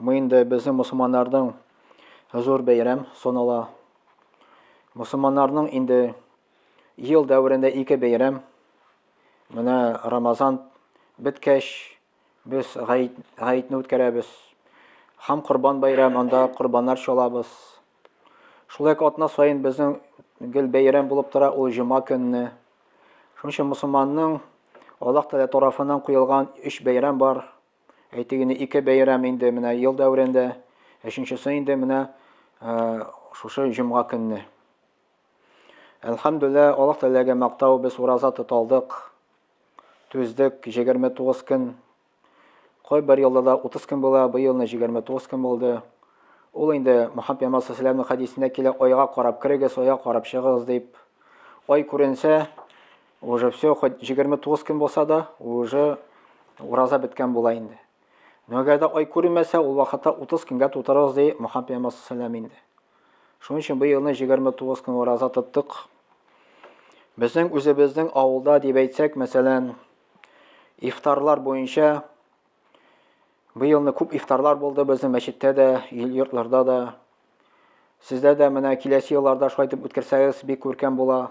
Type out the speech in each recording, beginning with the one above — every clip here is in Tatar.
Бу инде безнең мусулманнарның зур бәйрәм санала. Мусулманнарның инде ел дәверендә ике бәйрәм. Менә Рамазан беткәч, без гаетне үткәрәбез. Хам Корбан бәйрәм, анда корбаннар чалабыз. Шулай ук атна саен безнең гел бәйрәм булып тора ул җома көнне. Шуның өчен мусулманның Аллаһ Тәгалә тарафыннан куелган өч бәйрәм бар. Әйтик, инде ике бәйрәм инде менә ел дәверендә, өченчесе инде менә шушы җомга көнне. Әлхәмдүлә, Аллаһ теләге мактау без ураза тоталдык. Түздек 29 көн. Кой бер елда да 30 көн була, бу елны 29 көн булды. Ул инде Мухаммед пәйгамбәр саллаллаху хәдисендә килә, айга карап керегез, айга карап чыгыгыз дип. Ай күренсә, Уже все, хоть 29 көн булса да, уже ураза беткән була инде. Но әгәр дә ай күренмәсә, ул вакытта 30 көнгә тутырырыз ди Мөхәммәд пәйгамбәр саллаллаху инде. Шуның өчен бу елны 29 көн ураза тоттык. Безнең үзебезнең авылда дип әйтсәк, мәсәлән, ифтарлар буенча бу елны күп ифтарлар булды безнең мәчеттә дә, йортларда да. Сездә дә менә киләсе елларда шулай итеп үткәрсәгез, бик күркәм була.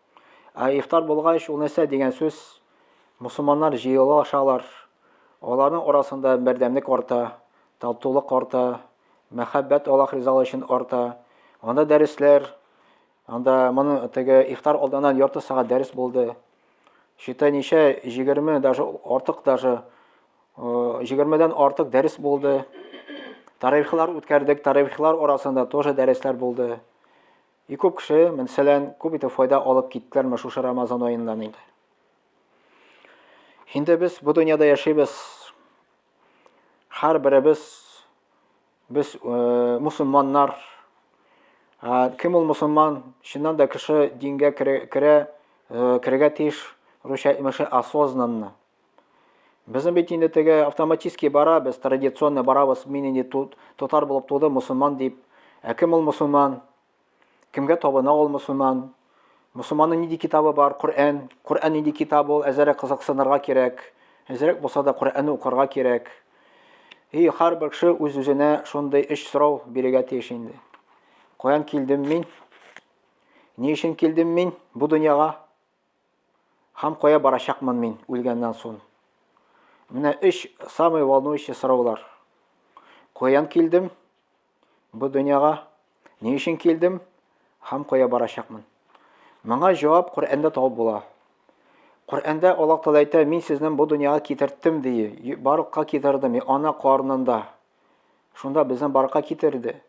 Ә ифтар булгач, ул нәрсә дигән сүз? Мусулманнар җыелу ашалар. Аларның арасында бердәмлек арта, татулык арта, мәхәббәт Аллаһ ризалыгы өчен арта. Анда дәресләр, анда моны теге ифтар алдыннан ярты сәгать дәрес булды. Читай ничә 20 даже артык даже 20-дән артык дәрес булды. Тарихлар үткәрдек, тарихлар арасында тоже дәресләр булды. И күп кеше, мәсәлән, күп итеп файда алып киттеләрме шушы Рамазан аеннан инде? Инде без бу дөньяда яшибез. Хәр беребез без э, мусулманнар. Ә кем ул мусулман? Чыннан да кеше дингә керә, э, керергә тиеш, русча имеше осознанно. Безнең бит инде теге автоматически бара, без традиционно барабыз, мин инде татар булып туды, мусульман дип. Ә кем ул мусульман? Кемгә табына ул мусульман? Мусульманның нинди китабы бар? Коръән. Коръән нинди китап ул? Әзерәк кызыксынырга кирәк. Әзерәк булса да Коръәнне укырга кирәк. И һәрбер кеше үз-үзенә шундый өч сорау бирергә тиеш инде. Каян килдем мин? Ни өчен килдем мин бу дөньяга? Һам кая барачакмын мин үлгәннән сон? Менә өч самый волнующий сораулар. Каян килдем? Бу дөньяга ни өчен килдем? Һам кая барачакмын? Моңа җавап Коръәндә табып була. Коръәндә Аллаһ Тәгалә әйтә, мин сезне бу дөньяга китерттем ди, барыкка китердем, ана карнында. Шунда безне барыкка китерде.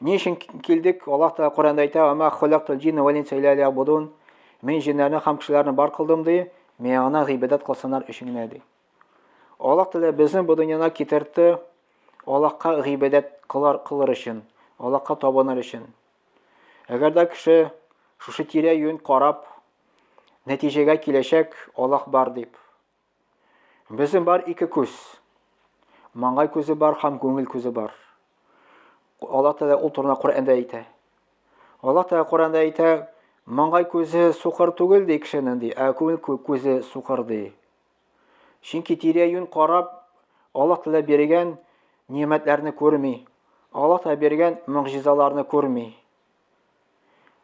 Ни өчен килдек? Аллаһ Тәгалә Коръәндә әйтә: "Ва ма халактул джинна вал инса илля лиябудун". Мин җиннәрне һәм кешеләрне бар кылдым ди, миңа гыйбадәт кылсыннар өчен генә ди. Аллаһ Тәгалә безне бу дөньяда китерде Аллаһка гыйбадәт кылар кылыр өчен, Аллаһка табыныр өчен. Әгәр дә кеше шушы тирә-юнь карап нәтиҗәгә киләчәк Аллаһ бар дип, Безнең бар ике күз. Маңгай күзе бар һәм күңел күзе бар. Аллаһ Тәгалә ул турында Коръәндә әйтә. Аллаһ Тәгалә Коръәндә әйтә, маңгай күзе сукыр түгел ди кешенең ди, ә күңел күзе сукыр ди. Чөнки тирә-юнь карап, Аллаһ Тәгалә биргән ниәмәтләрне күрми. Аллаһ Тәгалә биргән мөгъҗизаларны күрми.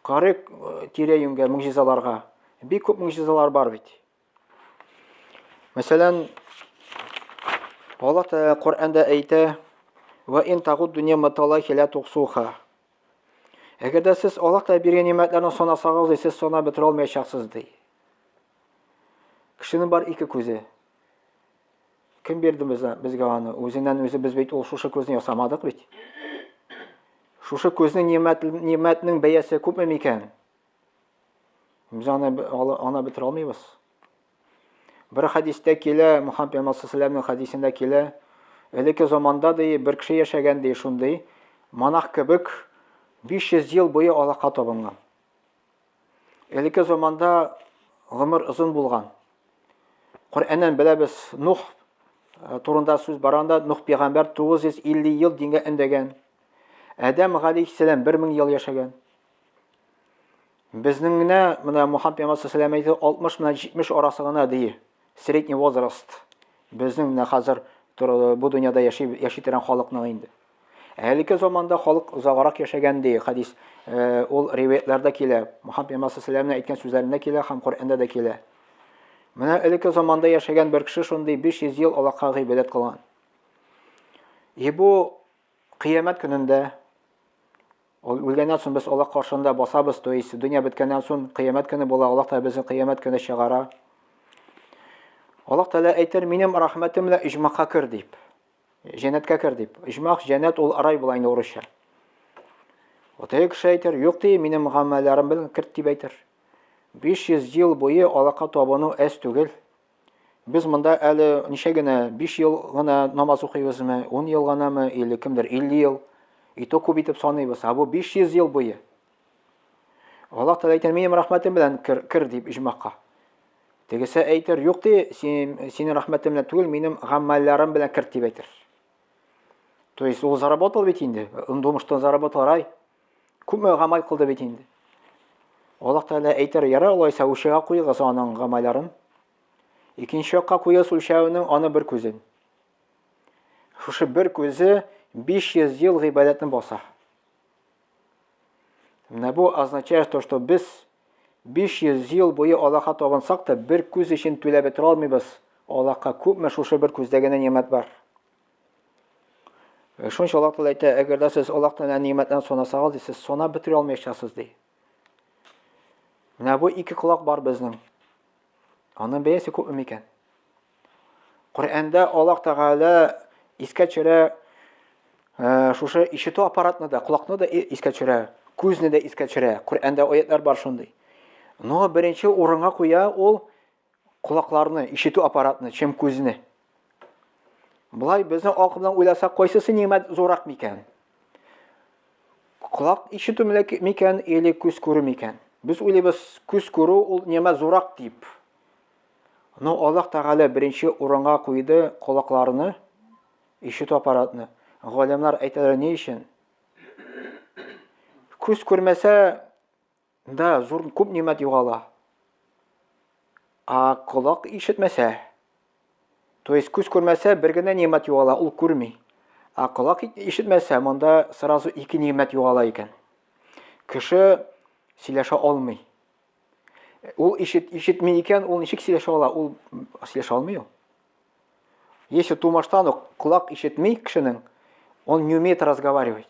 Карык э, тирә-юньгә мөгъҗизаларга. Бик күп мөгъҗизалар бар бит. Мәсәлән, Аллаһ Тәгалә Коръәндә әйтә: "Ва ин тагуд дөнья матала хилә туксуха". Әгәр дә сез Аллаһ Тәгалә биргән нигъмәтләрне санасагыз, сез санап бетерә алмаячаксыз ди. Кешенең бар ике күзе. Кем бирде безгә, безгә аны? Үзеннән үзе без бит ул шушы күзне ясамадык бит. Шушы күзнең нигъмәт нигъмәтнең бәясе күпме микән? Без аны аны бетерә алмыйбыз. Бер хәдистә килә, Мухаммед пәйгамбәр саллаллаһу хәдисендә килә, элекке заманда ди бер кеше яшәгән ди шундый монах кебек 500 ел буе алака табынган. Элекке заманда гомер озын булган. Коръәннән беләбез, Нух э, турында сүз барганда Нух пәйгамбәр 950 ел дингә эндәгән. Адәм галәйһиссәлам 1000 ел яшәгән. Безнең генә менә Мухаммад пәйгамбәр саллаллаху әйтте, 60 менә 70 арасы гына ди. Средний возраст. Безнең менә хәзер бу дөньяда яши яши торган халыкның инде. Әлеге заманда халык озаграк яшәгән ди, хадис э, ул риваятларда килә. Мухаммад пәйгамбәр саллаллаху алейһи әйткән сүзләрендә килә һәм Коръәндә дә килә. Менә элекке заманда яшәгән бер кеше шундый 500 ел Аллаһка гыйбадәт кылган. И бу кыямәт көнендә Ул үлгәннән соң без Аллаһ каршында басабыз, то есть дөнья беткәннән соң кыямәт көне була, Аллаһ Тәгалә безне кыямәт көне чыгара. Аллаһ Тәгалә әйтер, минем рәхмәтем белән иҗмакка кер дип. Җәннәткә кер дип. Иҗмак, җәннәт ул рай була инде урысча. Вот теге кеше әйтер, юк ди, минем гамәлләрем белән керт дип әйтер. 500 ел буе алака табыну әз түгел. Без монда әле ничә генә, 5 ел гына намаз укыйбызмы, 10 ел гынамы, или кемдер 50 ел. И то күп итеп саныйбыз, а бу 500 ел буе. Аллаһ Тәгалә әйтә, "Минем рәхмәтем белән кер, кер" дип иҗмакка. Тегесе әйтер, "Юк ди, син, синең рәхмәтең белән түгел, минем гамәлләрем белән кер" дип әйтер. То есть ул заработал ведь инде, он думал, что он заработал рай, Күпме гамәл кылды бит инде. Аллаһ Тәгалә әйтер, ярар алайса үлчәүгә куегыз аның гамәлләрен. Икенче якка куегыз үлчәүнең аны бер күзен. Шушы бер күзе 500 ел гыйбадәтне баса. Менә бу означает то, что без 500 ел буе Аллаһка табынсак та, бер күз өчен түләп бетә алмыйбыз. Аллаһка күпме шушы бер күздәгенә нигъмәт бар. Шунча Аллаһ Тәгалә әйтә, әгәр дә сез Аллаһ Тәгалә нигъмәтләрен санасагыз, сез санап бетерә алмаячаксыз ди. Менә бу ике колак бар безнең. Аның бәясе күпме микән? Коръәндә Аллаһ Тәгалә искә төшерә э, шушы ишетү аппаратны да, колакны да искә төшерә, күзне дә искә төшерә. Коръәндә аятлар бар шундый. Но беренче урынга куя ул Колакларны, ишетү аппаратны, чем күзне. Болай безнең акылдан уйласа, кайсысы нигмәт зурак микән? Колак ишетү микән, или күз күрү микән? Без уйлыйбыз, күз күрү ул нигмәт зурак дип. Но Аллаһ Тәгалә беренче урынга куйды колакларны, ишетү аппаратны. Галимнар әйтәләр ни өчен? Күз күрмәсә, Да, зур күп нимәт югала. А колак ишетмәсә, то есть күз күрмәсә, бер генә нимәт югала, ул күрми. А колак ишетмәсә, монда сразу ике нимәт югала икән. Кеше сөйләшә алмый. Ул ишет, ишетми икән, ул ничек сөйләшә ала? Ул сөйләшә алмый ул. Если тумаштан ук колак ишетми кешенең, он не умеет разговаривать.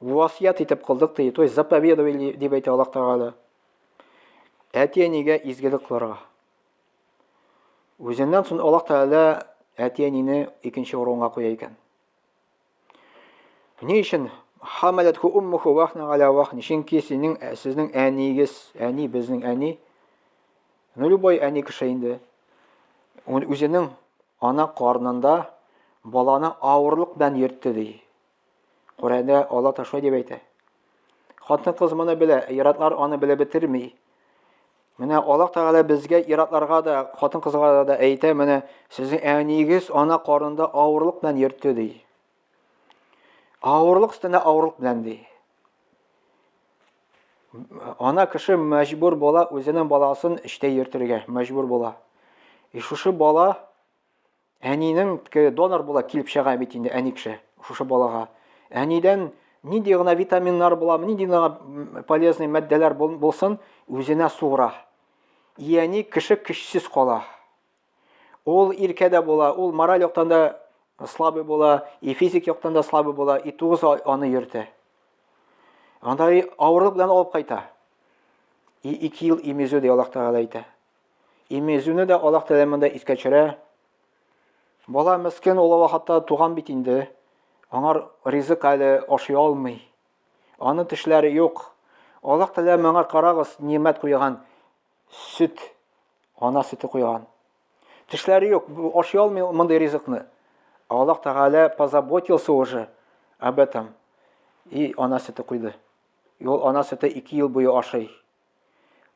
Васыять итеп кылдык ди, то есть заповедовали дип әйтә Аллаһ Тәгалә. Әти-әнигә изгелек кылырга. Үзеннән соң Аллаһ Тәгалә әти-әнине икенче урынга куя икән. Ни өчен хамалат ху уммуху вахна галя вахни? Чөнки синең ә, сезнең әнигез, әни безнең әни. Ну любой әни кеше инде. Ул үзенең ана карнында баланы авырлык белән йөртте ди. Коръәндә Алла ташлый дип әйтә. Хатын-кыз моны белә, иратлар аны белеп бетерми. Менә Алла Тәгалә безгә иратларга да, хатын-кызларга да әйтә, менә сезнең әниегез ана карында авырлык белән йөртте ди. Авырлык өстенә авырлык белән ди. Ана кеше мәҗбүр була үзенең баласын эштә йөртергә, мәҗбүр була. И шушы бала Әнинең донор була килеп чыга бит инде әни кеше шушы балага. Әнидән нинди гына витаминнар була, нинди гына полезный матдәләр булсын, үзенә суыра. Ияни кеше көчсез кала. Ул иркә дә була, ул мораль яктан да слабый була, и физик яктан да слабый була, и тугыз аны йөртә. Анда авырлык белән алып кайта. И ике ел имезү дә Аллаһ Тәгалә әйтә. Имезүне дә Аллаһ Тәгалә монда искә төшерә. Бала мескин ул вакытта туган бит инде. Аңар ризык әле ашый алмый. Аның тешләре юк. Аллаһ Тәгалә моңа карагыз, нимәт куйган. Сөт. Ана сөте куйган. Тешләре юк, ашый алмый мондый ризыкны. Аллаһ Тәгалә позаботился уже об этом. И ана сөте куйды. И ул ана сөте 2 ел буе ашый.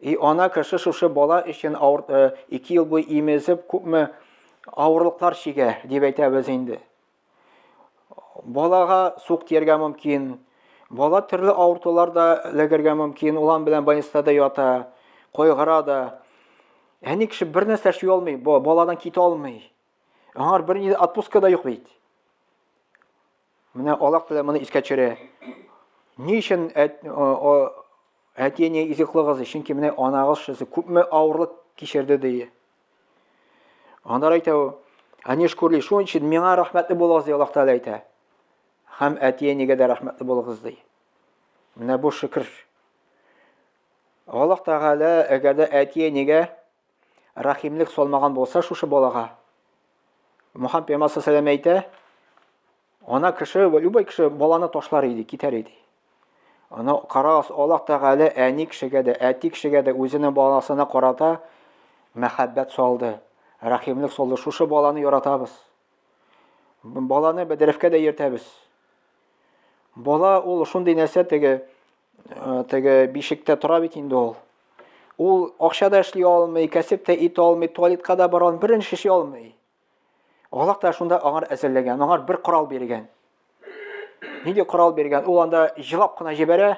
И ана кеше шушы бала өчен авыр, э, ике ел буе имезеп күпме авырлыклар чигә, дип әйтәбез инде. Балага сук тияргә мөмкин. Бала төрле авыртулар да эләгергә мөмкин. Улан белән больниста да ята, кайгыра да. Әни кеше бер нәрсә эшли алмый, баладан китә алмый. Аңар бер ни отпуска да юк бит. Менә Аллаһ белән моны искә төшерә. Ни өчен Әти ни изеклы кызы, чөнки менә анагыз шусы күпме авырлык кичерде ди. Анар әйтә ул, Әни шкурли, шуның өчен миңа рәхмәтле булыгыз ди Аллаһ Тәгалә әйтә. Һәм әти әнигә дә рәхмәтле булыгыз ди. Менә бу шөкер. Аллаһ Тәгалә әгәр дә әти әнигә рәхимлек салмаган булса шушы балага. Мухаммед пәйгамбәр сәлам әйтә, ана кеше, любой кеше баланы ташлар иде, китәр иде. Аны карагыз, Аллаһ Тәгалә әни кешегә дә, әти кешегә дә үзенең баласына карата мәхәббәт салды, рәхимлек салды. Шушы баланы яратабыз. Баланы бәдрәфкә дә йөртәбез. Бала ул шундый нәрсә теге э, теге бишектә тора бит инде ул. Ул акча да эшли алмый, кәсеп тә итә алмый, туалетка да бара алмый, берничә эшли алмый. Аллаһ Тәгалә шунда аңар әзерләгән, аңар бер корал биргән. Нинди корал биргән? Ул анда җылап кына җибәрә.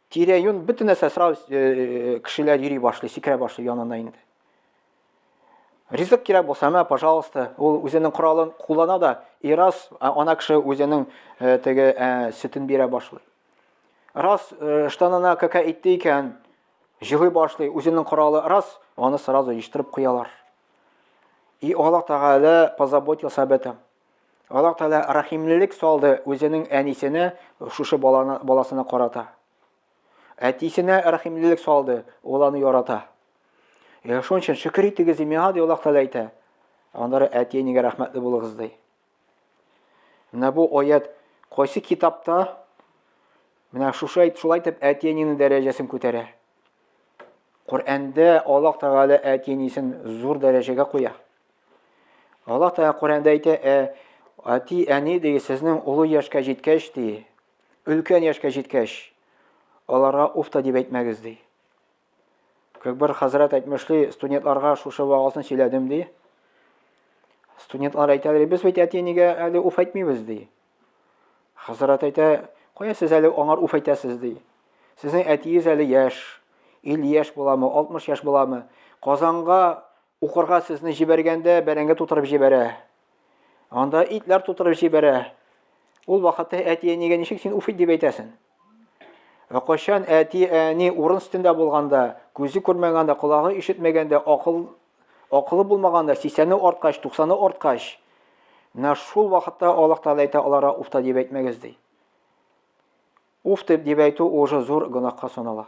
Тирә-юн бөтен нәрсә сразу э, э, кешеләр йөри башлый, сикерә башлый янына инде. Ризык кирәк булса, мә, пожалуйста, ул үзенең коралын куллана да, и раз ана кеше үзенең э, теге сөтен бирә башлый. Раз штанына кака итте икән, җылый башлый, үзенең коралы раз, аны сразу җиштырып куялар. И Аллаһ Тәгалә позаботился об этом. Аллаһ Тәгалә рәхимлелек салды үзенең әнисенә шушы баланы баласына карата. Әтисенә рәхимлелек салды, ул аны ярата. Яшәү өчен шөкер итегез, имиһа ди Аллаһ Тәгалә әйтә. Аннары әти-әнигә рәхмәтле булыгыз ди. Менә бу аят кайсы китапта менә шушы әйт шулай итеп әтиәнинең дәрәҗәсен күтәрә. Коръәндә Аллаһ Тәгалә әтиәнисен зур дәрәҗәгә куя. Аллаһ Тәгалә Коръәндә әйтә, ә әти әни ди сезнең олы яшькә җиткәч ди, өлкән яшькә җиткәч, аларга уфта дип әйтмәгез ди. Күкбер хәзрәт әйтмешли, студентларга шушы вагазны сөйләдем ди. Студентлар әйтә, без бит әти нигә әле уф әйтмибез ди. Хәзрәт әйтә, кая сез әле аңар уф әйтәсез ди. Сезнең әтиегез әле яшь, 50 яшь буламы, 60 яшь буламы? Казанга Укырга сезне җибәргәндә бәрәңге тутырып җибәрә. Анда итләр тутырып җибәрә. Ул вакытта әти-әнигә ничек син уф дип әйтәсен? Ә кайчан әти-әни урын өстендә булганда, күзе күрмәгәндә, колагы ишетмәгәндә, акыл акылы булмаганда, 80-е арткач, 90-е арткач, менә шул вакытта Аллаһ Тәгалә әйтә алара уфта дип әйтмәгез ди. Уф дип әйтү уже зур гөнаһка санала.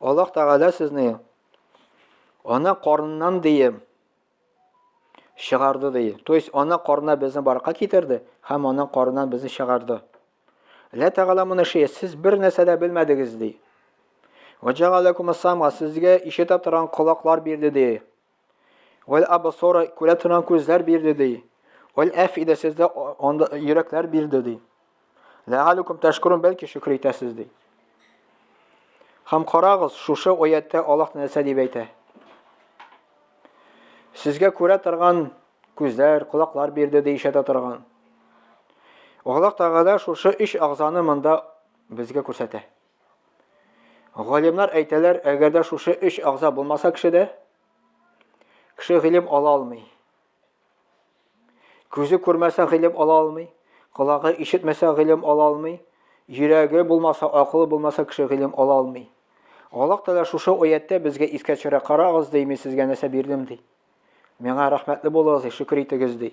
Аллаһ Тәгалә сезне ана карыннан дием чыгарды ди. То есть ана карына безне барка китерде һәм ана карыннан безне чыгарды. Ла Тәгалә моны ши, сез бер нәрсә дә белмәдегез ди. Ваҗагалакум асама, сезгә ишетә торган колаклар бирде ди. Вәл абсора күрә торган күзләр бирде ди. Вәл әфидә сездә анда йөрәкләр бирде ди. Ләгалүкүм тәшкурун бәлки шөкер итәсез ди. Хәм карагыз, шушы оятта Аллаһ нәрсә дип әйтә. Сезгә күрә торган күзләр, колаклар бирде ди ишәтә торган. Аллаһ Тәгалә шушы өч агзаны монда безгә күрсәтә. Галимнар әйтәләр, әгәр дә шушы өч агъза булмаса кешедә, кеше гыйлем ала алмый. Күзе күрмәсә гыйлем ала алмый, колагы ишетмәсә гыйлем ала алмый, йөрәге булмаса, акылы булмаса кеше гыйлем ала алмый. Аллаһ Тәгалә шушы аяттә безгә искә төшерә, карагыз, ди, мин сезгә нәрсә бирдем, ди. Миңа рәхмәтле булыгыз, ди, шөкер итегез, ди.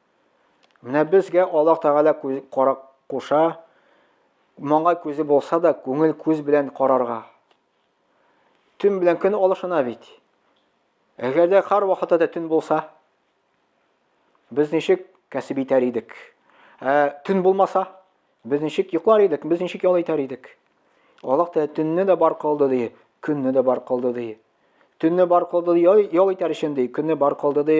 Менә безгә Аллаһ Тәгалә карак куша, маңгай күзе булса да, күңел күз белән карарга. Төн белән көн алышына бит. Әгәр дә кар вакыты да төн булса, без ничек кәсеп итәр идек? Ә төн булмаса, без ничек йоклар идек? Без ничек ял итәр идек? Аллаһ Тәгалә төнне дә бар кылды ди, көнне дә бар кылды ди. Төнне бар кылды ди, ял итәр өчен ди, көнне бар кылды ди,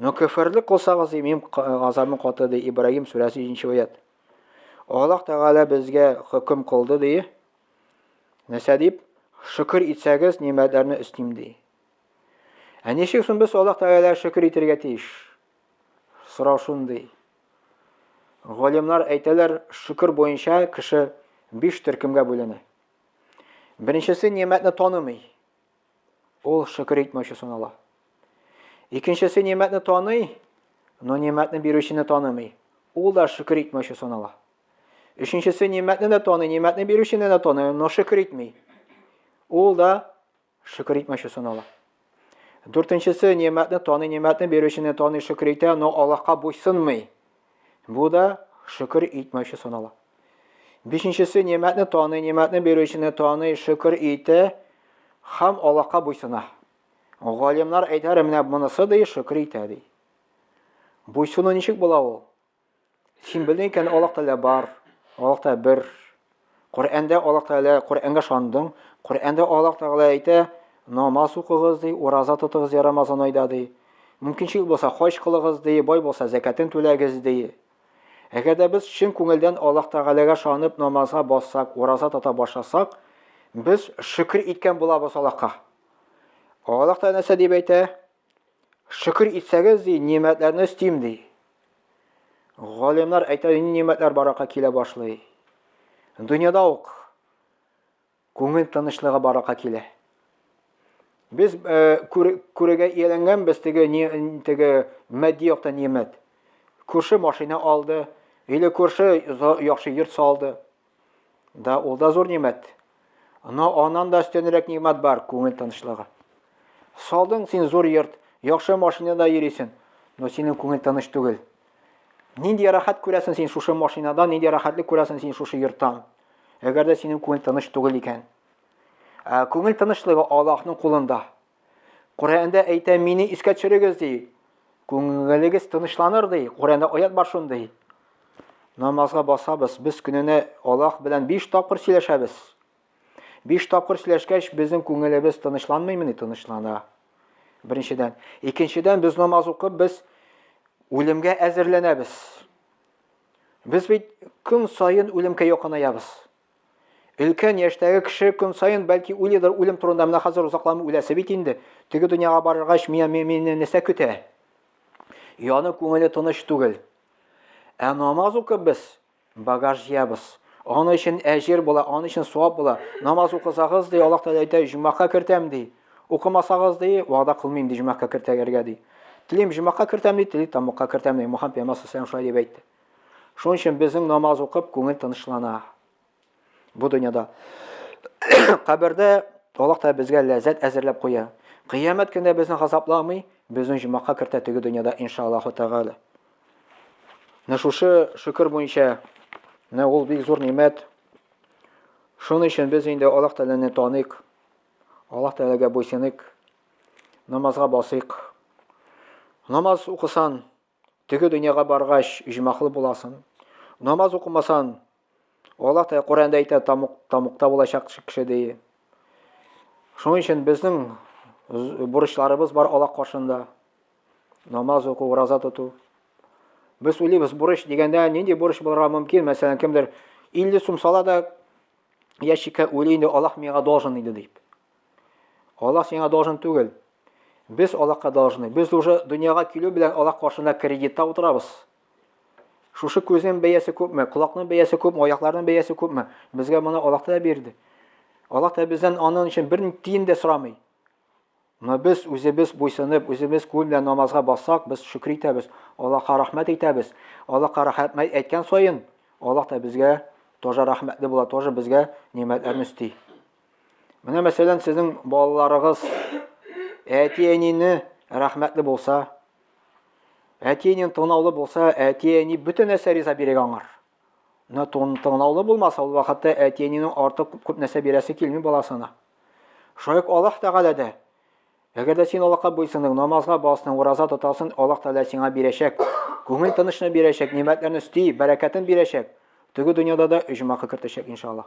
Но көферлек кылсагыз, имим азамы каты, ди Ибраһим сүрәсе 7 аят. Аллаһ Тәгалә безгә хөкем кылды, ди. Нәрсә дип? Шөкер итсәгез, нимәтләрне өстим, ди. Ә ничек соң без Аллаһ Тәгалә шөкер итәргә тиеш? Сорау шундый. Галимнар әйтәләр, шөкер буенча кеше биш төркемгә бүленә. Беренчесе нимәтне танымый. Ул шөкер итмәүче санала. Икенчесе нимәтне таный, но нимәтне бирүчене танымый. Ул да шөкер итмәүче санала. Өченчесе нимәтне дә таный, нимәтне бирүчене дә таный, но шөкер итми. Ул да шөкер итмәүче санала. Дүртенчесе нимәтне таный, нимәтне бирүчене таный, шөкер итә, но Аллаһка буйсынмый. Бу да шөкер итмәүче санала. Бишенчесе нимәтне таный, нимәтне бирүчене таный, шөкер итә һәм Аллаһка буйсына. Галимнар әйтәр менә монысы ди шөкер итә ди. Буйсыну ничек була ул? Син белдең икән Аллаһ Тәгалә бар, Аллаһ та бер. Коръәндә Аллаһ Тәгалә, Коръәнгә шандың, Коръәндә Аллаһ Тәгалә әйтә, намаз укыгыз ди, ураза тотыгыз я Рамазан айда ди. Мөмкинчелек булса хаҗ кылыгыз ди, бай булса зәкәтен түләгез ди. Әгәр дә без чын күңелдән Аллаһ Тәгаләгә шанып намазга бассак, ураза тота башласак, без шөкер иткән булабыз Аллаһка. Аллаһ Тәгалә нәрсә дип әйтә? Шөкер итсәгез, ди, нимәтләрне өстим, ди. Галимнар әйтә, нинди нимәтләр баракка килә башлый. Дөньяда ук күңел тынычлыгы баракка килә. Без э, күрегә ияләнгән без теге теге матди яктан нимәт. Күрше машина алды, или күрше яхшы йорт салды. Да, ул да зур нимәт. Но аннан да өстенрәк нимәт бар, күңел тынычлыгы. Салдың син зур йорт, яхшы машинада йөрисең, но синең күңел тыныч түгел. Нинди рәхәт күрәсең син шушы машинадан, нинди рәхәтлек күрәсең син шушы йорттан. Әгәр дә синең күңел тыныч түгел икән. Ә күңел тынычлыгы Аллаһның кулында. Коръәндә әйтә, мине искә төшерегез ди. Күңелегез тынычланыр ди. Коръәндә аят бар шундый. Намазга басабыз, без көненә Аллаһ белән 5 тапкыр сөйләшәбез. 5 тапкыр сөйләшкәч, безнең күңелебез тынычланмыймы ни тынычлана? Беренчедән, икенчедән без намаз укып, без үлемгә әзерләнәбез. Без бит көн саен үлемгә якынаябыз. Өлкән яшьтәге кеше көн саен бәлки уйлыйдыр үлем турында, менә хәзер озакламый үләсе бит инде. Теге дөньяга барыргач, миңа мине нәрсә көтә? Яны күңеле тыныч түгел. Ә намаз укып без багаж җыябыз. Аны өчен әҗер була, аны өчен суап була. Намаз укысагыз, ди, Аллаһ Тәгалә әйтә, җумака кертәм, ди. Укымасагыз, ди, вәгъдә кылмыйм, ди, җумака кертәгәргә, ди. Телим җумака кертәм, ди, тели тамакка кертәм, ди. Мухаммед пәйгамбәр саллаллаһу алейһи ва сәлләм шулай дип әйтте. Шуның өчен безнең намаз укып күңел тынычлана. Бу дөньяда кабердә Аллаһ та безгә ләззәт әзерләп куя. Кыямәт көндә безне газапламый, безнең җомака кертә теге дөньяда иншаллаһу тагала. Менә шушы шөкер буенча менә ул бик зур нимәт. Шуның өчен без инде Аллаһ Тәгаләне таныйк. Аллаһ Тәгаләгә буйсыныйк. Намазга басыйк. Намаз укысан, Теге дөньяга баргач, иҗмахлы буласын. Намаз укымасан, Аллаһ та Коръәндә әйтә, тамук, тамукта булачак кеше ди. Шуның өчен безнең бурычларыбыз бар Аллаһ каршында. Намаз уку, ураза тоту. Без уйлыйбыз, бурыч дигәндә нинди бурыч булырга мөмкин? Мәсәлән, кемдер 50 сум сала да ящикка уйлый инде Аллаһ миңа должен иде дип. Аллах сиңа должен түгел. Без Аллахка должны. Без уже дөньяга килү белән Аллах каршында кредитта утырабыз. Шушы күзнең бәясе күпме, колакның бәясе күпме, аякларның бәясе күпме? Безгә моны Аллах та бирде. Аллах та бездән аның өчен бер тиен дә сорамый. Но без үзебез буйсынып, үзебез күл белән намазга бассак, без шөкер итәбез, Аллаһка рәхмәт әйтәбез. Аллаһка рәхмәт әйткән саен, Аллаһ та безгә тоже рәхмәтле була, тоже безгә нимәтләрне өсти. Менә мәсәлән, сезнең балаларыгыз әти-әнине рәхмәтле булса, әти-әнин тыңлаулы булса, әти-әни бөтен нәрсә риза бирә аңар. Менә тыңлаулы булмаса, ул вакытта әти-әнинең артык күп нәрсә бирәсе килми баласына. Шулай ук Аллаһ Тәгалә дә Әгәр дә син Аллаһка буйсының, намазга басның, ураза тотасың, Аллаһ Тәгалә сиңа бирәчәк. Күңел тынычны бирәчәк, нигъмәтләрне өсти, бәрәкәтен бирәчәк. Теге дөньяда да оҗмахы кертәчәк иншаллаһ.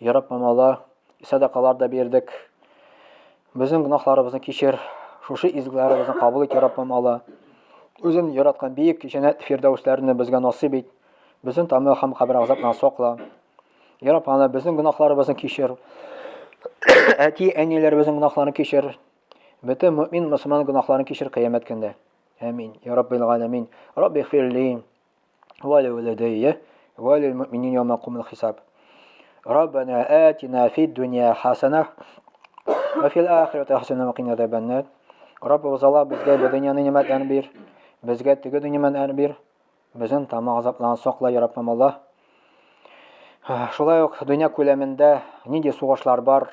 Ярап мамала, садакалар да бирдек. Безнең гөнаһларыбызны кичер, шушы изгеләребезне кабул ит, Ярап мамала. Үзен яраткан биек җәннәт фирдәүсләрне безгә насыйп ит. Безнең тамы һәм кабер азабына сакла. Ярап ана, безнең гөнаһларыбызны кичер. Әти, әниләребезнең гөнаһларын кичер. Бөтен мөмин, мөселман гөнаһларын кичер кыямәт көндә. Амин. Ярап бил галәмин. Рабби фирли. Валя валадея, валя муминин яма кумил хисаб. Раббана атина фид дунья хасана, ва фил ахирати хасана ва кина азабаннар. Раббыбыз Алла безгә бу дөньяны нигъмәтләр бир, безгә теге дөньяны бир. Безнең тамак азаплардан сакла, я Раббым Алла. Шулай ук дөнья күләмендә нинди сугышлар бар?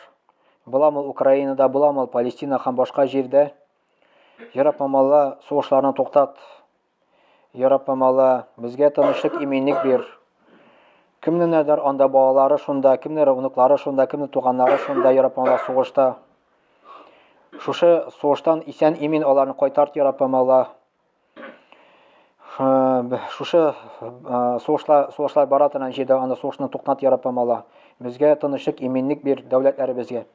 Буламы Украинада, буламы Палестина һәм башка җирдә? Я Раббым Алла, сугышларны туктат. Я Раббым Алла, безгә тынычлык, иминлек бир. Кемнедер анда балалары шунда, кемнедер внуклары шунда, кемнедер туганнары шунда, Я Раббым Алла, сугышта. Шушы сугыштан исән имин аларны кайтарт, Я Раббым Алла. Шушы сугышлар, сугышлар бара торган җирдә анда сугышны туктат, Я Раббым Алла. Безгә тынычлык, иминлек бир дәүләтләребезгә.